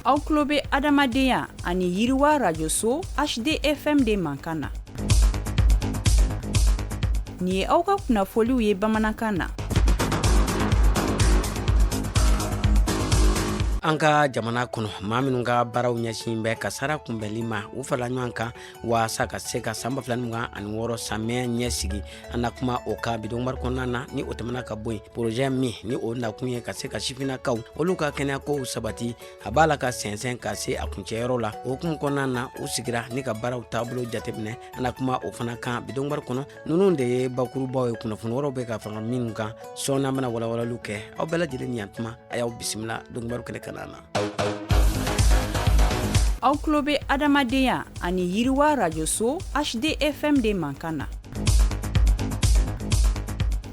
aw tulo bɛ adamadenya ani yiriwa arajoso HDFM de mankan na nin ye aw ka kunnafoliw ye bamanankan na an ka jamana kɔnɔ maa minnu ka baaraw ɲɛsin bɛ kasara kunbɛnli ma u farala ɲɔgɔn kan waasa ka se ka san ba fila ni mugan ani wɔɔrɔ samiyɛ ɲɛsigi an na kuma o kan bi donkibaru kɔnɔna na ni o tɛmɛna ka bɔ yen porozɛ min ni o nakun ye ka se ka sifinnakaw olu ka kɛnɛya kow sabati a b'a la ka sɛnsɛn ka se a kuncɛyɔrɔ la o hukumu kɔnɔna na u sigira ni ka baaraw taabolo jateminɛ an na kuma o fana kan bi donkibaru kɔnɔ ninnu de ye bakurubaw ye kunnafoni wɛrɛw bɛ ka fara minnu kan sɔɔni an bɛna walawalaliw kɛ aw bɛɛ lajɛlen ni yantuma a y'aw bisimila donkibaru kɛnɛ kanna na aw tulo bɛ adamadenya ani yiriwa arajoso HDFM de mankan na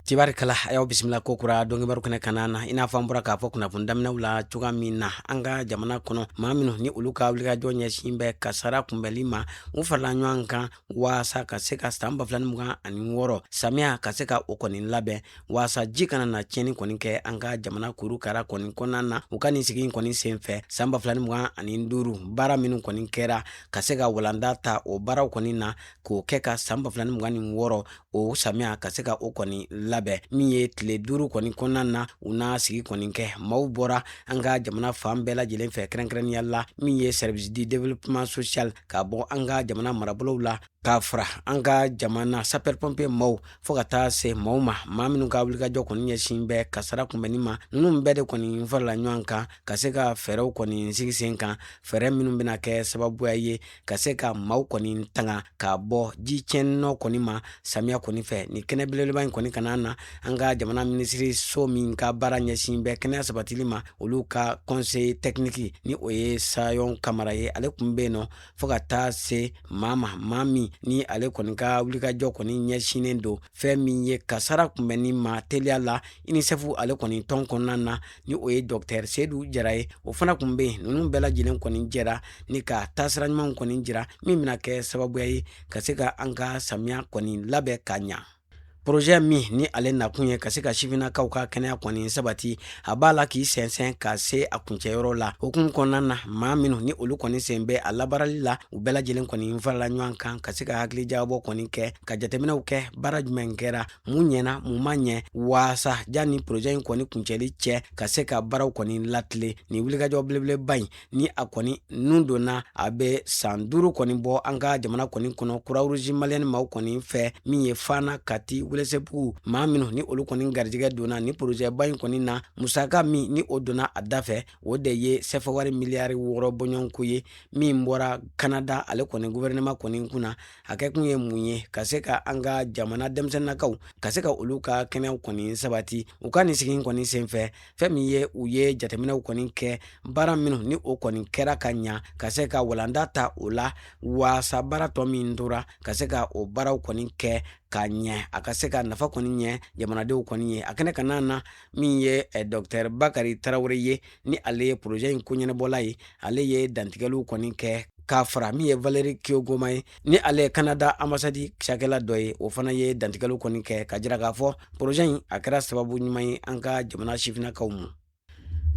tibarikala a y'aw bisimila ko kura donkibaru kɛnɛ kanna na i n'a fɔ an bɔra k'a fɔ kunnafoni daminɛw la cogoya min na an ka jamana kɔnɔ maa minnu ni olu ka wulikajɔ ɲɛsin bɛ kasara kunbɛnli ma u farala ɲɔgɔn kan waasa ka se ka san ba fila ni mugan ani wɔɔrɔ samiya ka se ka o kɔni labɛn waasa ji kana na tiɲɛni kɔni kɛ an ka jamana kuru kara kɔni kɔnɔna na u ka nin sigi in kɔni sen fɛ san ba fila ni mugan ani duuru baara minnu kɔni kɛra ka se ka walanda ta o baaraw kɔni na k'o kɛ ka san ba fila ni mugan ni wɔɔrɔ o samiya ka se ka o kɔni labɛn min ye tile duuru kɔni kɔnɔna na u na sigi kɔni kɛ maaw bɔra an ka jamana fan bɛɛ lajɛlen fɛ kɛrɛnkɛrɛnnenya la min ye service du développement social ka bɔ an ka jamana marabolow la k'a fara an ka jamana sapeur pompier maaw fo ka taa se maaw ma maa minw ka wulikajɔ kɔni ɲɛsin bɛ kasara kunbɛnni ma ninnu bɛɛ de kɔni farala ɲɔgɔn kan ka se ka fɛɛrɛw kɔni sigi sen kan fɛɛrɛ minw bɛna kɛ sababuya ye ka se ka maaw kɔni tanga ka bɔ ji tiɲɛninɔ kɔni ma samiya kɔni fɛ nin kɛnɛ belebeleba in kɔni kanna na an ka jamana minisiri so min ka baara ɲɛsin bɛ kɛnɛya sabatili ma olu ka conseiller technique ni o ye sayɔn kamara ye ale kun bɛ yen nɔ fo ka taa se maa ma maa min ni ale kɔni ka wulikajɔ kɔni ɲɛsinnen don fɛn min ye kasara kunbɛnni ma teliya la UNICEF ale kɔni tɔn kɔnɔna na ni o ye docteur Seyidu Jara ye o fana kun bɛ yen ninnu bɛɛ lajɛlen kɔni jɛra ni ka taasira ɲumanw kɔni jira min bɛna kɛ sababuya ye ka se ka an ka samiya kɔni labɛn ka ɲa projet min ni ale nakun ye ka se ka sifinnakaw ka kɛnɛya kɔni sabati a b'a la k'i sɛnsɛn ka se a kuncɛyɔrɔ la o hukumu kɔnɔna na maa minnu ni olu kɔni sen bɛ a labaarali la u bɛɛ lajɛlen kɔni farala ɲɔgɔn kan ka se ka hakilijagabɔ kɔni kɛ ka jateminɛw kɛ baara jumɛn kɛra mun ɲɛna mun ma ɲɛ waasa janni porozɛ in kɔni kuncɛli cɛ ka se ka baaraw kɔni latile ni wulikajɔ belebeleba in ni a kɔni nun donna a bɛ san duuru kɔni bɔ an ka jamana kɔni kɔnɔ kurawuruzi maliyɛni maaw kɔni fɛ min ye fana kati welesebugu maa minnu ni olu kɔni garijɛgɛ donna ni porozɛba in kɔni na musaka min ni o donna a da fɛ o de ye sɛfɛwari miliyari wɔɔrɔ bɔɲɔgɔnko ye min bɔra kanada ale kɔni guvɛrɛnɛma kɔni kunna a kɛ kun ye mun ye ka se ka an ka jamana denmisɛnninakaw ka se ka olu ka kɛnɛyaw kɔni sabati u ka nin sigi kɔni senfɛ fɛn min ye u ye jateminɛw kɔni kɛ baara minnu ni o kɔni kɛra ka ɲa ka se ka walanda ta o la waasa baara tɔ min tora ka se ka o baaraw kɔni kɛ ka ɲɛ a ka se ka nafa kɔni ɲɛ jamanadenw kɔni ye a kɛnɛ kanna na min ye eh, dɔktɛr bakari tarawele ye ni ale ye porozɛ in koɲɛnabɔla ye ale ye dantigɛliw kɔni kɛ k'a fara min ye valeri kiogoma ye ni ale ye kanada anbasadi cakɛla dɔ ye o fana ye dantigɛliw kɔni kɛ ka jira k'a fɔ porozɛ in a kɛra sababu ɲuman ye an ka jamana sifinnakaw ma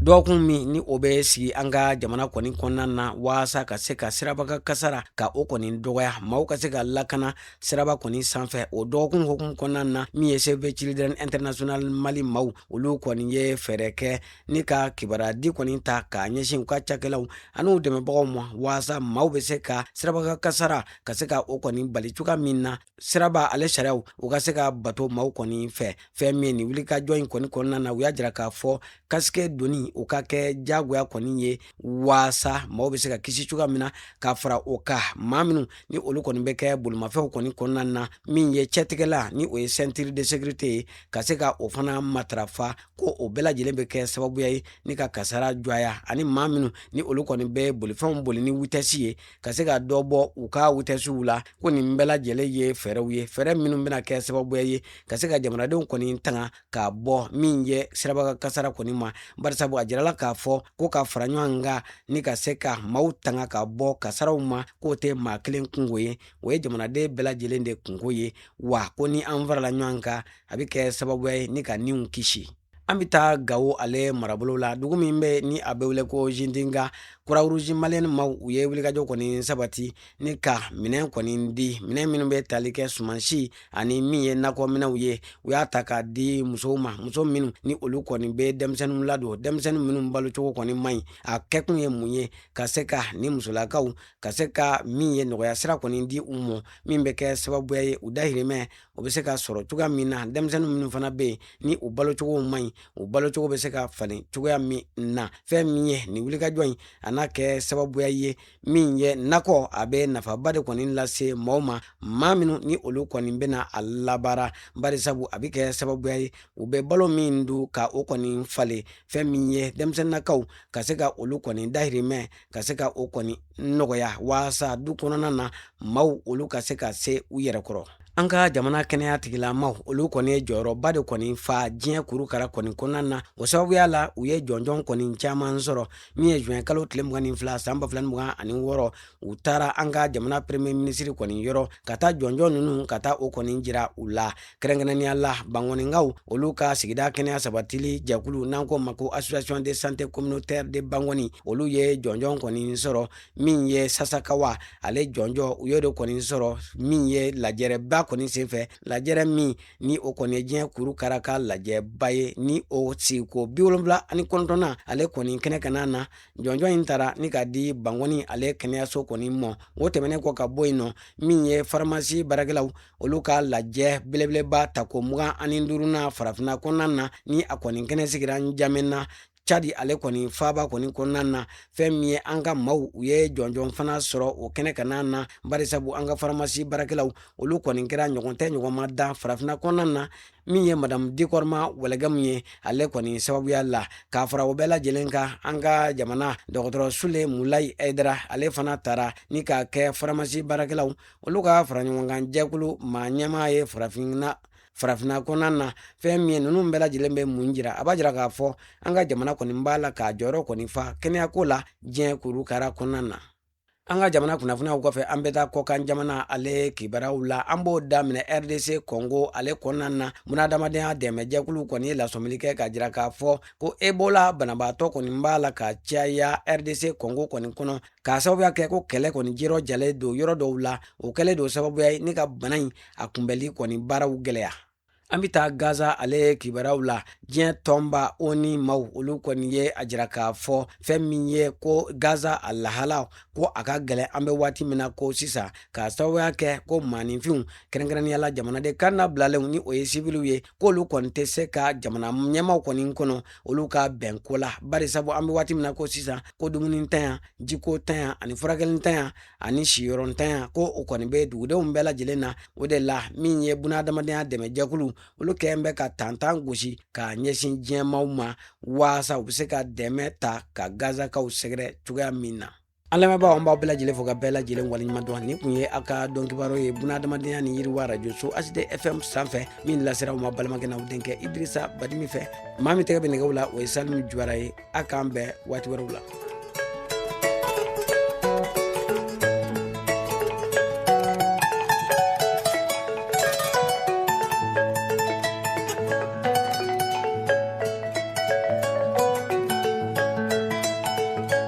dɔgɔkun min ni o bɛ sigi an ka jamana kɔni kɔnɔna na waasa ka se ka sirabakan kasara ka o kɔni dɔgɔya maaw ka se ka lakana siraba kɔni sanfɛ o dɔgɔkun hukumu kɔnɔna na min ye save children international mali maaw olu kɔni ye fɛɛrɛ kɛ ni ka kibaruyadi kɔni ta k'a ɲɛsin u ka cakɛlaw ani u dɛmɛbagaw ma waasa maaw bɛ se ka sirabakan kasara ka se ka o kɔni bali cogoya min na siraba ale sariyaw u ka se ka bato maaw kɔni fɛ fɛn min ye nin wulikajɔ in kɔni kɔnɔna na u y'a jira k'a fɔ kasike donni o ka kɛ jagoya kɔni ye waasa maaw bɛ se ka kisi cogoya min na ka fara o kan maa minnu ni olu kɔni bɛ kɛ bolimafɛnw kɔni kɔnɔna na min ye cɛtigɛlan ni o ye sɛntiri de sekirite ye ka se ka o fana matarafa ko o bɛɛ lajɛlen bɛ kɛ sababuya ye ni ka kasara dɔgɔya ani maa minnu ni olu kɔni bɛ bolifɛnw boli ni witɛsi ye ka se ka dɔ bɔ u ka witɛsiw la ko nin bɛɛ lajɛlen ye fɛɛrɛw ye fɛɛrɛ minnu bɛna kɛ sababuya ye ka se ka jamanadenw kɔni tanga ka bɔ min ye sirabakan kasara kɔni ma barisabu a jirala k'a fɔ ko ka fara ɲɔgɔn kan ni ka se ka maaw tanga ka bɔ kasaraw ma k'o tɛ maa kelen kunko ye o ye jamanaden bɛɛ lajɛlen de kunko ye wa ko ni an farala ɲɔgɔn kan a bɛ kɛ sababuya ye ni ka niw kisi an bɛ taa gawo ale marabolo la dugu min bɛ ni a bɛ wele ko zindiga kurawuruzi maliyɛni maaw u ye wulikajɔ kɔni sabati ni ka minɛn kɔni di minɛn minnu bɛ tali kɛ sumansi ani min ye nakɔminɛnw ye u y'a ta k'a di musow ma muso minnu ni olu kɔni bɛ denmisɛnninw ladon denmisɛnnin minnu balocogo kɔni man ɲi a kɛkun ye mun ye ka se ka nin musolakaw ka se ka min ye nɔgɔya sira kɔni di u ma min bɛ kɛ sababuya ye u dahirimɛ o bɛ se ka sɔrɔ cogoya min na denmisɛnnin minnu fana bɛ yen ni u balocogo man ɲi u balocogo bɛ se ka falen cogoya min na fɛn min ye nin wulikajɔ in a n'a kɛ sababuya ye min ye nakɔ a bɛ nafaba de kɔni lase maaw ma maa minnu ni olu kɔni bɛna a labaara barisabu a bɛ kɛ sababuya ye u bɛ balo min dun ka o kɔni falen fɛn min ye denmisɛnninnakaw ka se ka olu kɔni dahirimɛ ka se ka o kɔni nɔgɔya waasa du kɔnɔna na maaw olu ka se ka se u yɛrɛ kɔrɔ an ka jamana kɛnɛya tigilamaw olu kɔni ye jɔyɔrɔba de kɔni fa diɲɛ kurukara kɔni kɔnɔna na o sababuya la u ye jɔnjɔn kɔni caman sɔrɔ min ye juin kalo tile mugan ni fila san ba fila ni mugan ani wɔɔrɔ u taara an ka jamana premier ministre kɔni yɔrɔ ka taa jɔnjɔn ninnu ka taa o kɔni jira u la kɛrɛnkɛrɛnnenya la bankɔninkaw olu ka sigida kɛnɛya sabatili jɛkulu n'an k'o ma ko association de santé communautaire de banconi olu ye jɔnjɔn kɔni sɔrɔ min ye sasakawa ale jɔnjɔn u y'o de kɔni sɔrɔ min ye lajɛrɛba kɔni senfɛ lajɛrɛ min ni o kɔni ye diɲɛ kurukara ka lajɛba ye ni o sigiko bi wolonwula ani kɔnɔntɔnnan ale kɔni kɛnɛ kanna na jɔnjɔn in tara ni ka di bankɔni ale kɛnɛyaso kɔni ma o tɛmɛnen kɔ ka bɔ yen nɔ min ye faramasi baarakɛlaw olu ka lajɛ belebeleba tako mugan ani durunan farafinna kɔnɔna na ni a kɔni kɛnɛ sigira njamɛna cadi ale kɔni faaba kɔni kɔnɔna na fɛn min ye an ka maw u ye jɔnjɔn fana sɔrɔ o kɛnɛ kanna na barisabu an ka faramasi baarakɛlaw olu kɔni kɛra ɲɔgɔn tɛ ɲɔgɔn ma dan farafinna kɔnɔna na min ye madamu dikɔrɔma wɔlɔgɛmu ye ale kɔni sababuya la k'a fara o bɛɛ lajɛlen kan an ka jamana dɔgɔtɔrɔ sule mulayi hayidara ale fana tara ni k'a kɛ faramasi baarakɛlaw Olu ka fara ɲɔgɔnkan jɛkulu maa ɲɛmaa ye farafinna kɔnɔna na fɛn min ye ninnu bɛɛ lajɛlen bɛ mun jira a b'a jira k'a fɔ an ka jamana kɔni b'a la k'a jɔyɔrɔ kɔni fa kɛnɛyako la diɲɛ kurukara kɔnɔna na an ka jamana kunnafoniyaw kɔfɛ an bɛ taa kɔkan jamana ale kibaruyaw la an b'o daminɛ rdc kɔngo ale kɔnɔna na bunadamadenya dɛmɛjɛkulu kɔni ye lasɔmili kɛ k'a jira k'a fɔ ko ebola banabaatɔ kɔni b'a la ka caya rdc kɔngo kɔni kɔnɔ k'a sababuya kɛ ko kɛlɛ kɔni jirɔ jalen don yɔrɔ dɔw la o kɛlen don sababuya ye ni ka bana in a kunbɛli kɔni baaraw gɛlɛya an bɛ taa gaza ale kibaruyaw la diɲɛ tɔnba oni maw olu kɔni ye a jira k'a fɔ fɛn min ye ko gaza a lahala ko a ka gɛlɛn an bɛ waati min na ko sisan k'a sababuya kɛ ko maaninfinw kɛrɛnkɛrɛnnenya la jamanaden kannabilalenw ni o ye siviliw ye k'olu kɔni tɛ se ka jamana ɲɛmaw kɔni kɔnɔ olu ka bɛnko la bari sabu an bɛ waati min na ko sisan ko dumuni ntanya jiko ntanya ani furakɛli ntanya ani siyɔrɔ ntanya ko o kɔni bɛ dugudenw bɛɛ lajɛlen na o de la min ye bunahadamadenya dɛmɛjɛkulu olu kɛlen bɛ ka tantan gosi ka ɲɛsin diɲɛmaw ma waasa u bɛ se ka dɛmɛ ta ka gazakaw sɛgɛrɛ cogoya min na An lamɛnbaaw an b'aw bɛɛ lajɛlen fo ka bɛɛ lajɛlen waleɲuman dɔn nin kun ye aw ka don kibaru ye bunahadamadenya ni yiriwa Radio so HD FM sanfɛ min lasera aw ma balimakɛ n'aw denkɛ Idirisa Badimi fɛ maa min tɛgɛ bɛ nɛgɛw la o ye Salimu Juwara ye a k'an bɛn waati wɛrɛw la.